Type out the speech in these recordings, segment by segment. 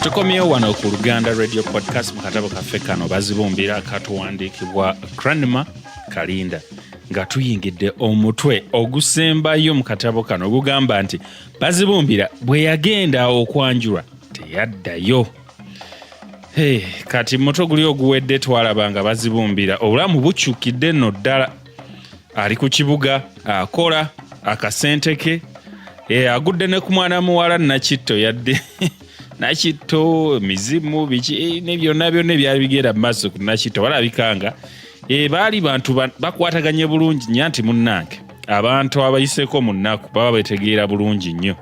tukomyewo wano ku luganda radio podcast mu katabo kaffe kano bazibumbira katuwandiikibwa cranma kalinda nga tuyingidde omutwe ogusembayo mu katabo kano ogugamba nti bazibumbira bwe yagenda okwanjulwa teyaddayo Hey, kati moto guli oguwedde twalaba nga bazibumbira obulamu bukyukidde nno ddala ali ku kibuga akola akasente ke e, agudde ne ku mwana muwala nakitto yadde nakitto mizimu biki e, ne byonna byonna ebyali bigenda mu maaso ku nakitto balabikanga e, baali bantu bakwataganye bulungi nya nti munnange abantu abayiseko mu nnaku baba betegeera bulungi nnyo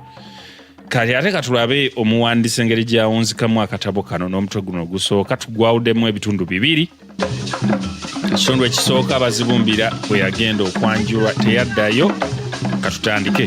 kati ate katulabe omuwandisi engeri gyawunzikamu akatabo kano n'omutwe guno ogusooka tugwawudemu ebitundu bibiri ekitundu ekisooka abazibumbira bwe yagenda okwanjulwa teyaddayo katutandike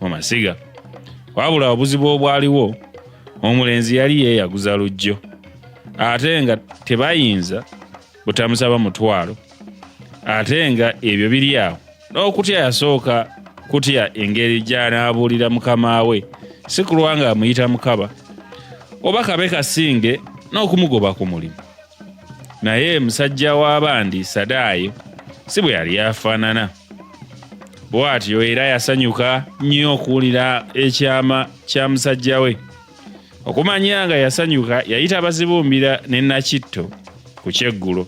mu masiga wabula obuzibu obwaliwo omulenzi yali yeeyaguza lujjo ate nga tebayinza butamusaba mutwalo ate nga ebyo biri awo n'okutya yasooka kutya engeri gy'anaabuulira mukama we si kulwa nga amuyita mukaba oba kabe kasinge n'okumugoba ku mulimu naye musajja w'abandi sadaayo si bwe yali afaanana bw'atyo era yasanyuka nnyo okuwulira ekyama kya musajja we okumanya nga yasanyuka yayita abazibumbira ne nakitto ku kyeggulo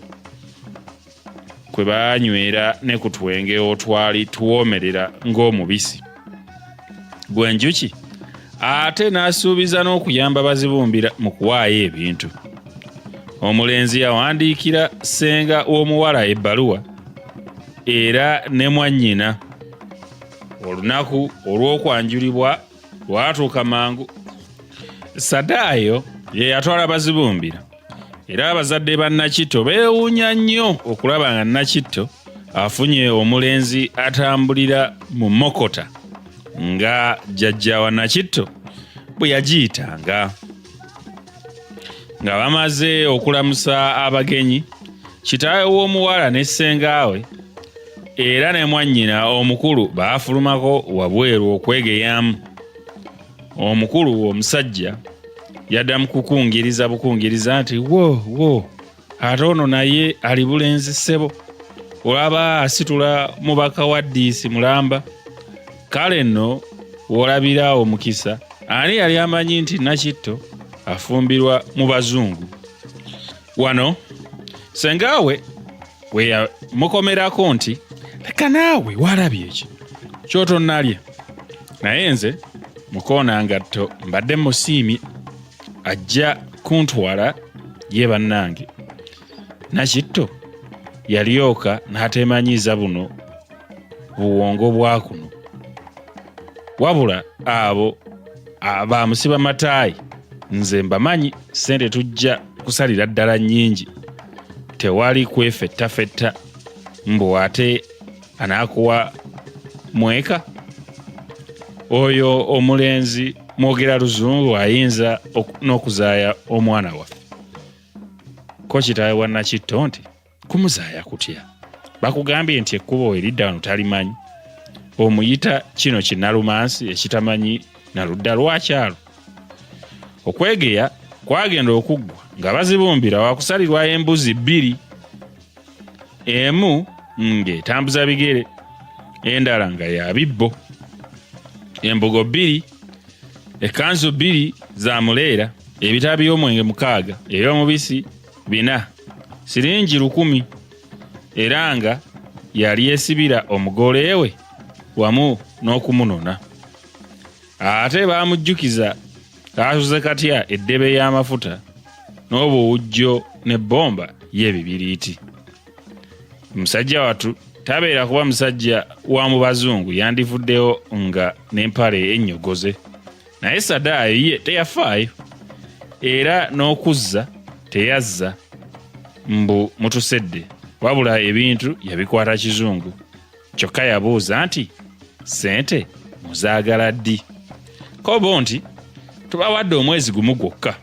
kwe baanywera ne ku twenge otwali tuwoomerera ng'omubisi gwenjuki ate n'asuubiza n'okuyamba bazibumbira mu kuwaayo ebintu omulenzi yawandiikira ssenga w'omuwala ebbaluwa era ne mwannyina olunaku olw'okwanjulibwa lwatuuka mangu sadaayo ye yatwala bazibumbira era abazadde ba Nakitto beewuunya nnyo okulaba nga Nakitto afunye omulenzi atambulira mu mokota nga jjajja wa Nakitto bwe yagiyitanga nga bamaze okulamusa abagenyi kitaawe w'omuwala ne ssengaawe era ne mwannyina omukulu baafulumako wabweru okwegeyamu omukulu omusajja yadda mukukungiriza bukungiriza nti wo wo ate ono naye ali bulenzi ssebo olaba asitula mubaka wa diisi mulamba kale nno wolabira omukisa ani yali amanyi nti nakitto afumbirwa mu bazungu wano sengaawe mukomerako nti leka naawe walabye eki kyotonalya naye nze mukoona ngatto mbadde musiimi ajja kuntwala ye bannange nakitto yalyoka n'ateemanyiiza buno buwongo bwa kuno wabula abo abamusiba mataayi nze mbamanyi sente tujja kusalira ddala nyingi tewali kwefettafetta mbu ate anaakuwa mweka oyo omulenzi mwogera luzungu ayinza n'okuzaaya omwana waffe ko kitaawe wa nakitto nti kumuzaaya kutya bakugambye nti ekkubo eridda wano talimanyi omuyita kino kinalumansi ekitamanyi naludda lwakyalo okwegeya kwagenda okuggwa nga bazibumbira wakusalirwayo embuzi bbiri emu ng'etambuza bigere endala nga ya bibbo embugo bbiri ekkanzu bbiri za muleera ebitabo by'omwenge mukaaga eby'omubisi bina siringi lukumi era nga yali esibira omugole we wamu n'okumunona ate baamujjukiza kaasuze katya eddebe y'amafuta n'obuwujjo ne bbomba y'ebibiriiti musajja watu tabeera kuba musajja wa mu bazungu yandivuddewo nga n'empale ennyogoze naye sadaayo ye teyafaayo era n'okuzza teyazza mbu mutusedde wabula ebintu yabikwata kizungu kyokka yabuuza nti sente muzaagala ddi kobo nti tubawadde omwezi gumu gwokka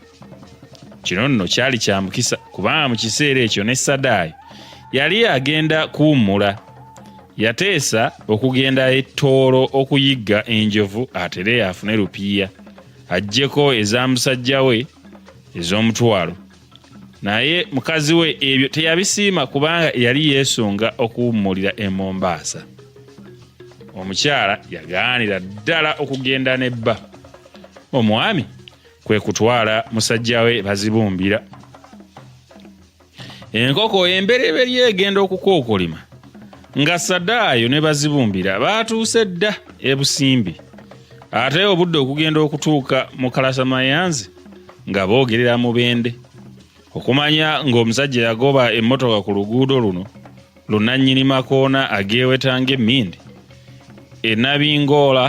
kino nno kyali kya mukisa kubanga mu kiseera ekyo ne sadaayo yali agenda kuwummula yateesa okugenda ettoolo okuyigga enjovu atere afune lupiiya ajjeko eza musajja we ez'omutwalo naye mukazi we ebyo teyabisiima kubanga yali yeesunga okuwummulira e mombaasa omukyala yagaanira ddala okugenda ne bba omwami kwe kutwala musajja we bazibumbira enkoko embereberye egenda okukookolima nga sadaayo ne bazibumbira baatuuse dda ebusimbi ate obudde okugenda okutuuka mu kalasamayanzi nga boogerera mubende okumanya ng'omusajja yagoba emmotoka ku luguudo luno lunannyini makoona agewetanga emmindi enabingoola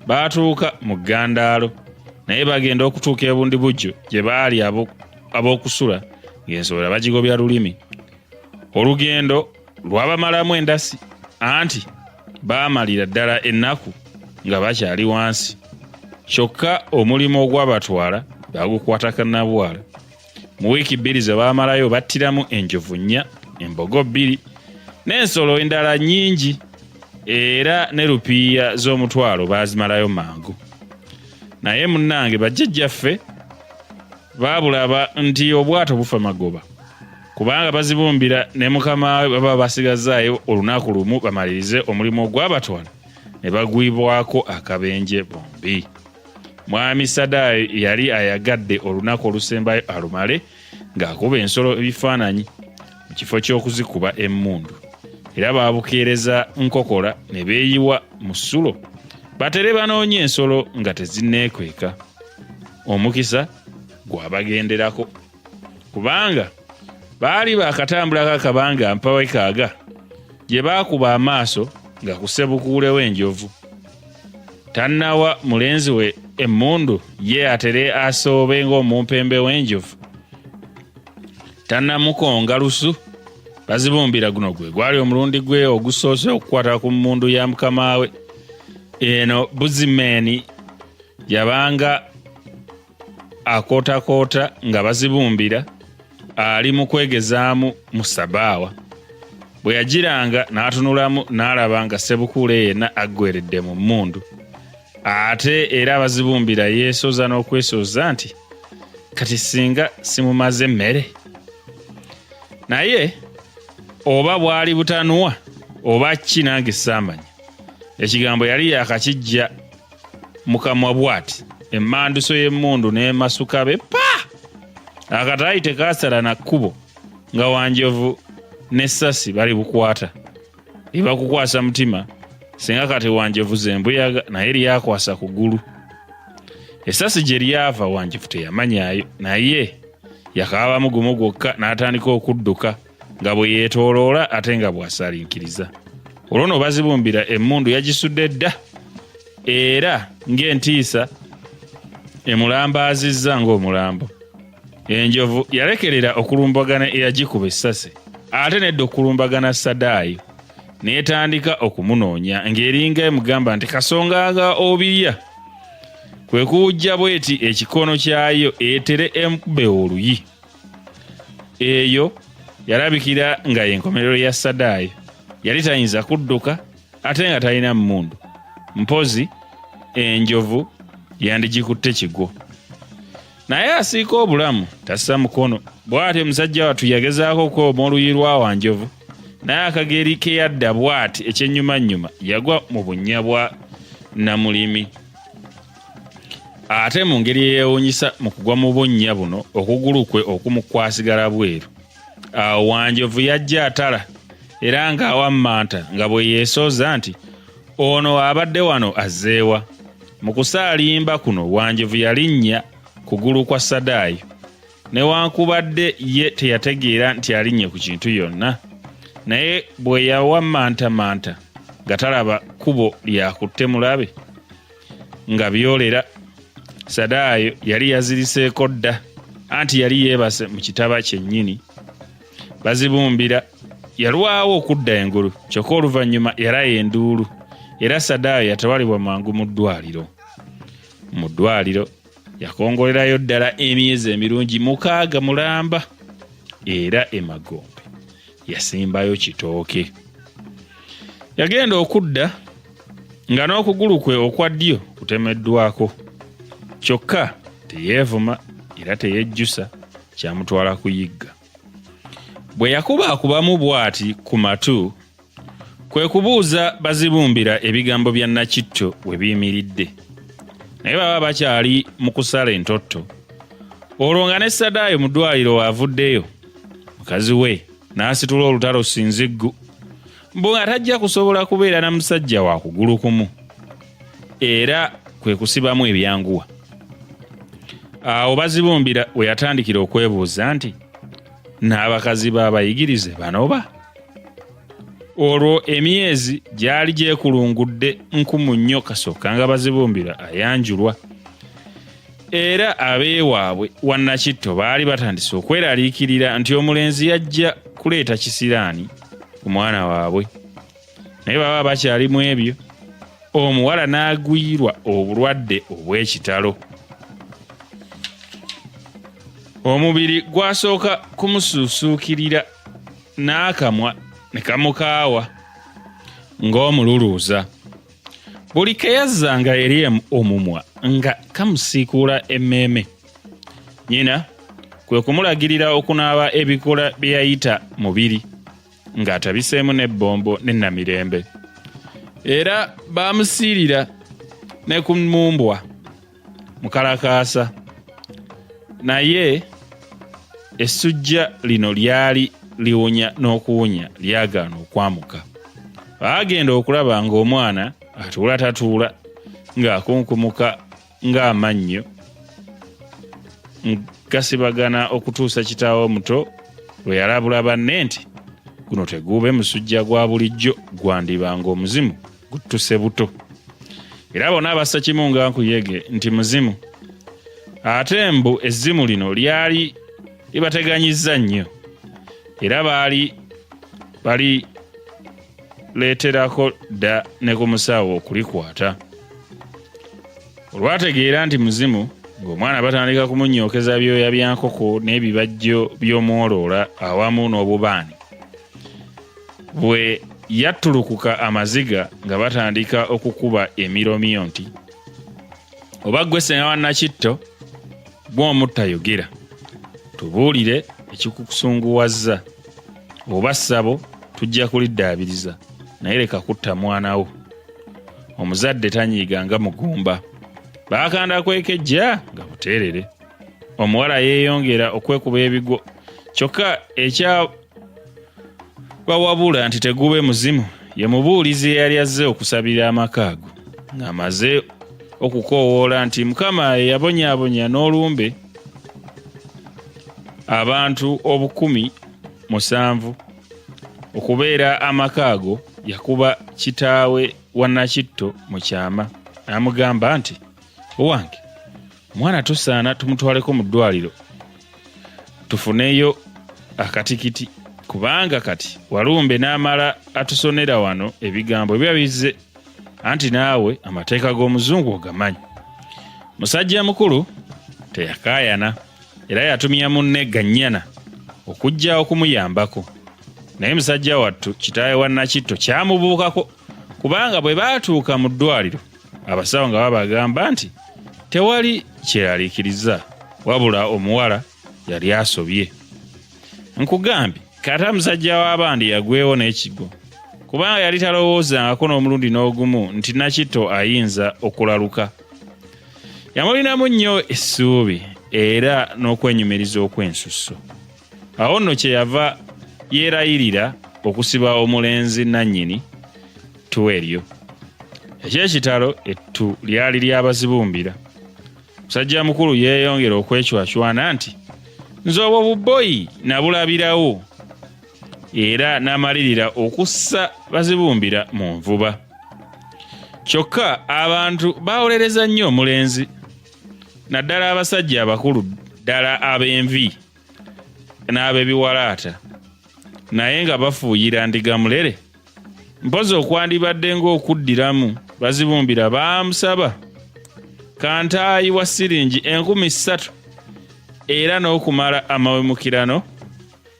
baatuuka mu ggandaalo naye bagenda okutuuka ebundi bujjo gye baali ab'okusula ng'ensowera bagigobya lulimi olugendo lwabamalamu endasi anti baamalira ddala ennaku nga bakyali wansi kyokka omulimu ogwabatwala bagukwatakanabwala mu wiiki bbiri ze baamalayo battiramu enjovu nnya embogo bbiri n'ensolo endala nnyingi era ne lupiiya z'omutwalo baazimalayo mangu naye munnange bajjajjaffe baabulaba nti obwato bufa magoba kubanga bazibumbira ne mukama we baba basigazaayo olunaku lumu bamalirize omulimu ogwabatwala ne bagwibwako akabenje bombi mwami sadaayo yali ayagadde olunaku olusembayo alumale ng'akuba ensolo ebifaananyi mu kifo ky'okuzikuba emmundu era baabukeereza nkokola ne beeyiwa mu ssulo batere banoonya ensolo nga tezinneekweka omukisa gwabagenderako kubanga baali bakatambulako akabanga mpawe kaaga gye baakuba amaaso nga kusebukuulewo enjovu tannawa mulenzi we emmundu ye atere asoobe ng'omumpembe w'enjovu tannamukonga lusu bazibumbira guno gwe gwali omulundi gwe ogusoose okukwata ku mmundu ya mukama we eno buzimeeni yabanga akootakoota nga bazibumbira ali mu kwegezaamu mu sabaawa bwe yagiranga n'atunulamu n'alaba nga sebukuule yenna aggweredde mu mmundu ate era abazibumbira yeesooza n'okwesooza nti kati singa simumaze emmere naye oba bwali butanuwa oba ki nange saamanya ekigambo yali yakakijja mukamwa bwati emanduso y'emmundu n'emasuka be pa akataayi tekaasala na kkubo nga wanjovu ne sasi bali bukwata ebakukwasa mutima singa kati wanjovu zembuyaga naye lyakwasa ku gulu esasi gye lyava wanjovu teyamanyayo naye yakaabamu gumu gwokka n'atandika okudduka nga bwe yeetooloola ate nga bw'asalinkiriza olwo no bazibumbira emmundu yagisudde dda era ng'entiisa emulambaazizza ng'omulambo enjovu yalekerera okulumbagana eyagikuba essasi ate nedda okulumbagana sadaayo n'etandika okumunoonya ng'eringa emugamba nti kasonga nga obirya kwe kuwujja bweti ekikono kyayo etere emkube oluyi eyo yalabikira nga yenkomerero ya sadaayo yali tayinza kudduka ate nga talina mmundu mpozi enjovu yandigikutte kigwo naye asiika obulamu tassa mukono bw'ati omusajja wattu yagezaako okukooma oluyi lwa wanjovu naye akageri ke yadda bw'ati ekyennyumannyuma yagwa mu bunnya bwa namulimi ate mu ngeri eyewunyisa mu kugwa mu bunnya buno okugulu kwe okumu kwasigala bweru awo wanjovu yajja atala era ng'awammanta nga bwe yeesooza nti ono abadde wano azzeewa mu kusaalimba kuno wanjovu yalinnya kugulu kwa sadaayo newankubadde ye teyategeera nti alinnye ku kintu yonna naye bwe yawamantamanta nga talaba kkubo lyakutte mulabe nga byolera sadaayo yali yaziriseeko dda anti yali yeebase mu kitaba kyennyini bazibumbira yalwawo okudda engulu kyokka oluvannyuma yalaya enduulu era sadaayo yatwalibwa mangu mu ddwaliro mu ddwaliro yakongolerayo ddala emyezi emirungi mukaaga mulamba era emagombe yasimbayo kitooke yagenda okudda nga n'okugulu kwe okwa ddyo kutemeddwako kyokka teyeevuma era teyejjusa kyamutwala kuyigga bwe yakuba akubamu bw'ati ku matu kwe kubuuza bazibumbira ebigambo bya nakitto we biyimiridde naye baba bakyali mu kusala entotto olwo nga ne sadaayo mu ddwaliro waavuddeyo mukazi we n'asitula olutalo sinziggu mbu nga tajja kusobola kubeera na musajja wa kugulu kumu era kwe kusibamu ebyanguwa awo bazibumbira we yatandikira okwebuuza nti n'abakazi b'abayigirize banoba olwo emyezi gyali gyekulungudde nkumu nnyo kasooka nga bazibumbira ayanjulwa era abeewaabwe wannakitto baali batandise okweraliikirira nti omulenzi yajja kuleeta kisiraani ku mwana waabwe naye baba bakyalimu ebyo omuwala n'agwirwa obulwadde obw'ekitalo omubiri gwasooka kumusuusuukirira n'akamwa ne kamukaawa ng'omululuuza buli keyazzanga eri omumwa nga kamusiikuula emmeeme nyina kwe kumulagirira okunaaba ebikola bye yayita mubiri ng'atabiseemu n'ebbombo ne namirembe era baamusiirira ne ku mmumbwa mukalakaasa naye essujja lino lyali liwonya n'okuwonya lyagaana okwamuka baagenda okulaba ng'omwana atuula tatuula ng'akunkumuka ng'amannyo gasibagana okutuusa kitaawo omuto lwe yalabula banne nti guno teguube musujja gwa bulijjo gwandiba ng'omuzimu guttuse buto era bona abassa kimu nga nkuyege nti muzimu ate mbu ezzimu lino lyali libateganyizza nnyo era baali bali leeterako dda ne ku musawo okulikwata olwategeera nti muzimu ng'omwana batandika kumunyookeza byoya bya nkoko n'ebibajjo by'omwoloola awamu n'obubaani bwe yattulukuka amaziga nga batandika okukuba emiromiyo nti oba gwe senga wa nakitto gw'omuttayogera tubuulire ekikukusunguwazza oba ssabo tujja kuliddaabiriza naye leka kutta mwana wo omuzadde tanyiiga nga mugumba baakanda kwekejja nga buteerere omuwala yeeyongera okwekuba ebigwo kyokka bawabula nti tegube muzimu ye mubuulizi eyali azze okusabira amaka ago ng'amaze okukoowoola nti mukama eyabonyabonya n'olumbe abantu obukumi musanvu okubeera amaka ago yakuba kitaawe wa nakitto mu kyama n'amugamba nti owange mwana tusaana tumutwaleko mu ddwaliro tufuneyo akatikiti kubanga kati walumbe n'amala atusonera wano ebigambo ebiba bizze anti naawe amateeka g'omuzungu ogamanyi musajja mukulu teyakaayana era yatumya munne gannyana okujja okumuyambako naye musajja wattu kitaawe wa nakitto kyamubuukako kubanga bwe baatuuka mu ddwaliro abasawo nga babagamba nti tewali kyeralikiriza wabula omuwala yali asobye nkugambye kata musajja w'abandi yagwewo n'ekigo kubanga yali talowoozangako n'omulundi n'ogumu nti nakito ayinza okulaluka yamulinamu nnyo essuubi era n'okwenyumiriza okw'ensusso awo nno kyeyava yeerayirira okusiba omulenzi nannyini ttu eryo ekyekitalo ettu lyali lyabazibumbira musajja mukulu yeeyongera okwecwacwana nti nze obwo bubboyi nabulabirawo era n'amalirira okussa bazibumbira mu nvuba kyokka abantu bawolereza nnyo omulenzi naddala abasajja abakulu ddala ab'envi n'abebiwalaata naye nga bafuuyira ndiga mulere mpozi okwandibadde ng'okuddiramu bazibumbira baamusaba kantaayi wa siringi enkumi ssatu era n'okumala amawemukirano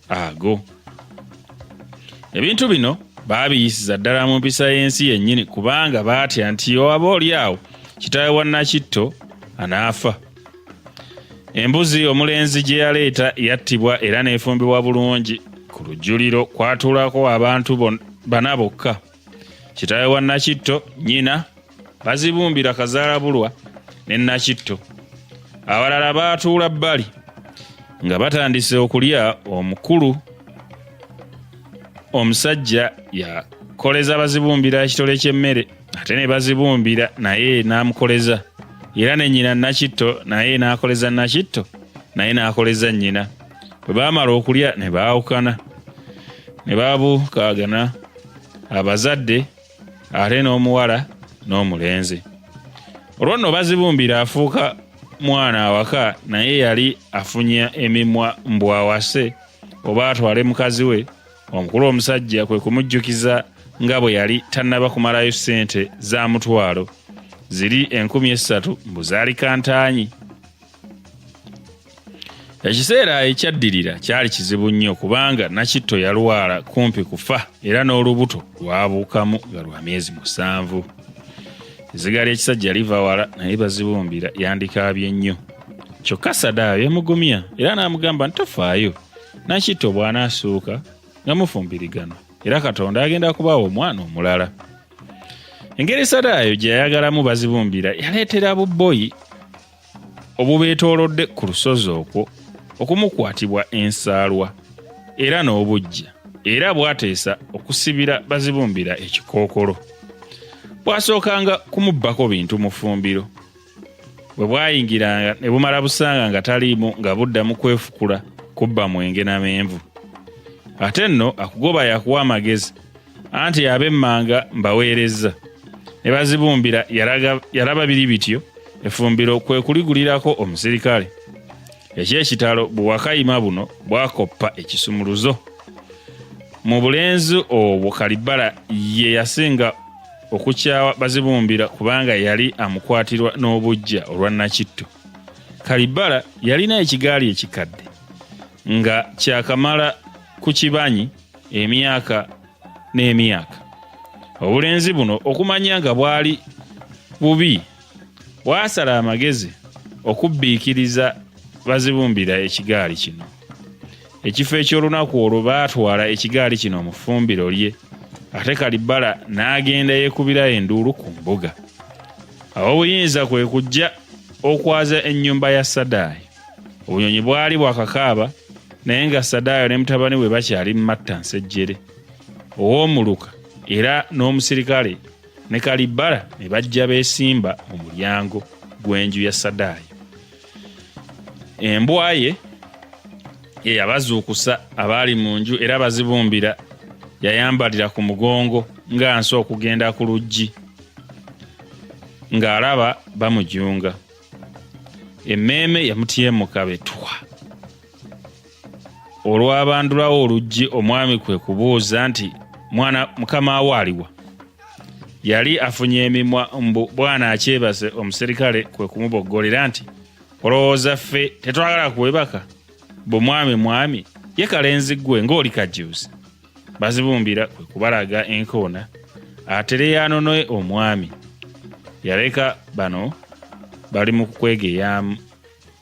ago ebintu bino baabiyisiza ddala mu mpisa y'ensi yennyini kubanga baatya nti oaba oli awo kitaawe wa nakitto anaafa embuzi omulenzi gye yaleeta yattibwa era neefumbibwa bulungi ku lujjuliro kwatuulako abantu bana bokka kitaawe wa nakitto nyina bazibumbira kazaalabulwa ne nakitto abalala baatuula bbali nga batandise okulya omukulu omusajja yakoleza bazibumbira ekitole ky'emmere ate ne bazibumbira naye n'amukoleza era ne nnyina nakitto naye n'akoleza nakitto naye n'akoleza nnyina bwe baamala okulya ne baawukana ne babukaagana abazadde ate n'omuwala n'omulenzi olwo nno bazibumbira afuuka mwana awaka naye yali afunya emimwa mbwawase oba atwale mukazi we Omukulu omusajja kwe kumujjukiza nga bwe yali tannaba kumalayo ssente za mutwalo ziri enkumi essatu mbu zaali kantaanyi. Ekiseera ekyaddirira kyali kizibu nnyo kubanga Nakitto yalwala kumpi kufa era n'olubuto lwabuukamu nga lwa myezi musanvu. Ezziga ly'ekisajja liva wala naye bazibumbira yandikaabye nnyo. kyokka sadaayo yamugumya era n'amugamba nti tofaayo Nakitto bw'anaasuuka nga mufumbiriganwa era Katonda agenda kubaawo omwana omulala. Engeri Sadaayo gye yayagalamu bazibumbira yaleetera bubboyi obubeetoolodde ku lusozi okwo okumukwatibwa ensaalwa era n'obujja era bw'ateesa okusibira bazibumbira ekikookolo. Bwasookanga kumubbako bintu mu ffumbiro bwe bwayingiranga ne bumala busanga nga taliimu nga budda mu kwefukula kubba mwenge na menvu ate nno akugoba yakuwa amagezi anti ab'emmanga mbaweerezza ne bazibumbira yalaba biri bityo efumbiro kwe kuligulirako omusirikale eky'ekitalo buwakayima buno bwakoppa ekisumuluzo mu bulenzi obwo kalibbala ye yasinga okukyawa bazibumbira kubanga yali amukwatirwa n'obujja olwa nakitto kalibala yalina ekigaali ekikadde nga kyakamala ku kibanyi emyaka n'emyaka obulenzi buno okumanya nga bwali bubi bwasala amagezi okubbiikiriza bazibumbira ekigaali kino ekifo eky'olunaku olwo baatwala ekigaali kino mu ffumbiro lye ate kalibbala n'agenda yeekubira enduulu ku mbuga ab'obuyinza kwe kujja okwaza ennyumba ya sadaayo obunyonyi bwali bwakakaaba naye nga sadaayo ne mutabani we bakyali mu matta nsejjere ow'omuluka era n'omusirikale ne kalibbala ne bajja beesimba mu mulyango gw'enju ya sadaayo embwa ye eyabazuukusa abaali mu nju era bazibumbira yayambalira ku mugongo nga nsi okugenda ku luggi ng'alaba bamujunga emmeeme yamutyemuka betwa olwabandulawo oluggi omwami kwe kubuuza nti mwana mukama wo aliwa yali afunye emimwa mbu bwana akyebase omuserikale kwe kumuboggolera nti olowooza ffe tetwagala kuwebaka bwe mwami mwami ye kalenzi ggwe ng'oli kajjuuzi bazibumbira kwe kubalaga enkoona atereyaanonoe omwami yaleka bano bali mu kwegeyamu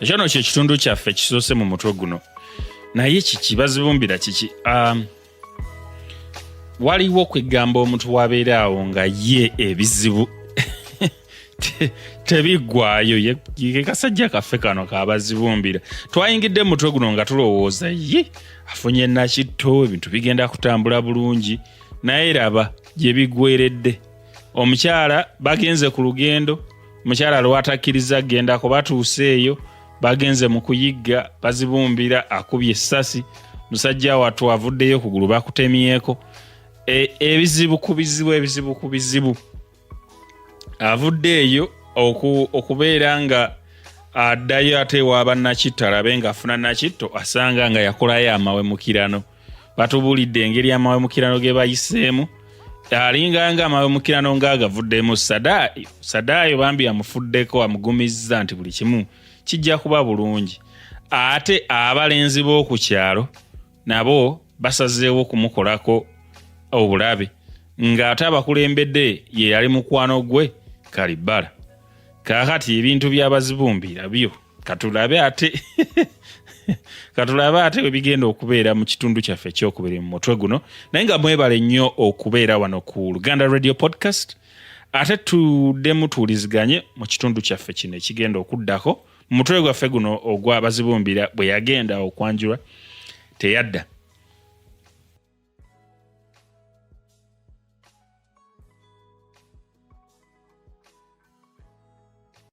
ekyo no kye kitundu kyaffe kisoose mu mutwe guno naye kiki bazibumbira kiki um, waliwo kwegamba omuntu wabeera awo nga ye ebizibu tebiggwayo ye kasajja kaffe kano kabazibumbira twayingidde mu mutwe guno nga tulowooza ye afunye nakitto ebintu bigenda kutambula bulungi naye raba gye bigweredde omukyala bagenze ku lugendo mukyala lwatakkiriza gendako batuuse eyo bagenze mu kuyigga bazibumbira akubye essasi musajja wattu avuddeyo ku gulu bakutemyeko e, ebizibu ku bizibu ebizibu ku bizibu avudde eyo okubeera nga addayo ate ewa bannakittalabe ng'afuna nakitto asanga nga yakolayo amawemukirano batubulidde engeri amawemukirano ge bayiseemu alinganga amawemukirano nga agavuddemu sadaayo bambi amufuddeko amugumizza nti buli kimu kijja kuba bulungi ate abalenzi b'oku kyalo nabo basazeewo kumukolako obulabe ng'ate abakulembedde ye yali mukwano gwe kalibala kaakati ebintu by'abazibumbira byo katulabe ate katulabe ate webigenda okubeera mu kitundu kyaffe ekyokubiri mu mutwe guno naye nga mwebale nnyo okubeera wano ku luganda radio podcast ate tuddemu tuwuliziganye mu kitundu kyaffe kino ekigenda okuddako mu mutwe gwaffe guno ogwa bazibumbira bwe yagenda okwanjulwa teyadda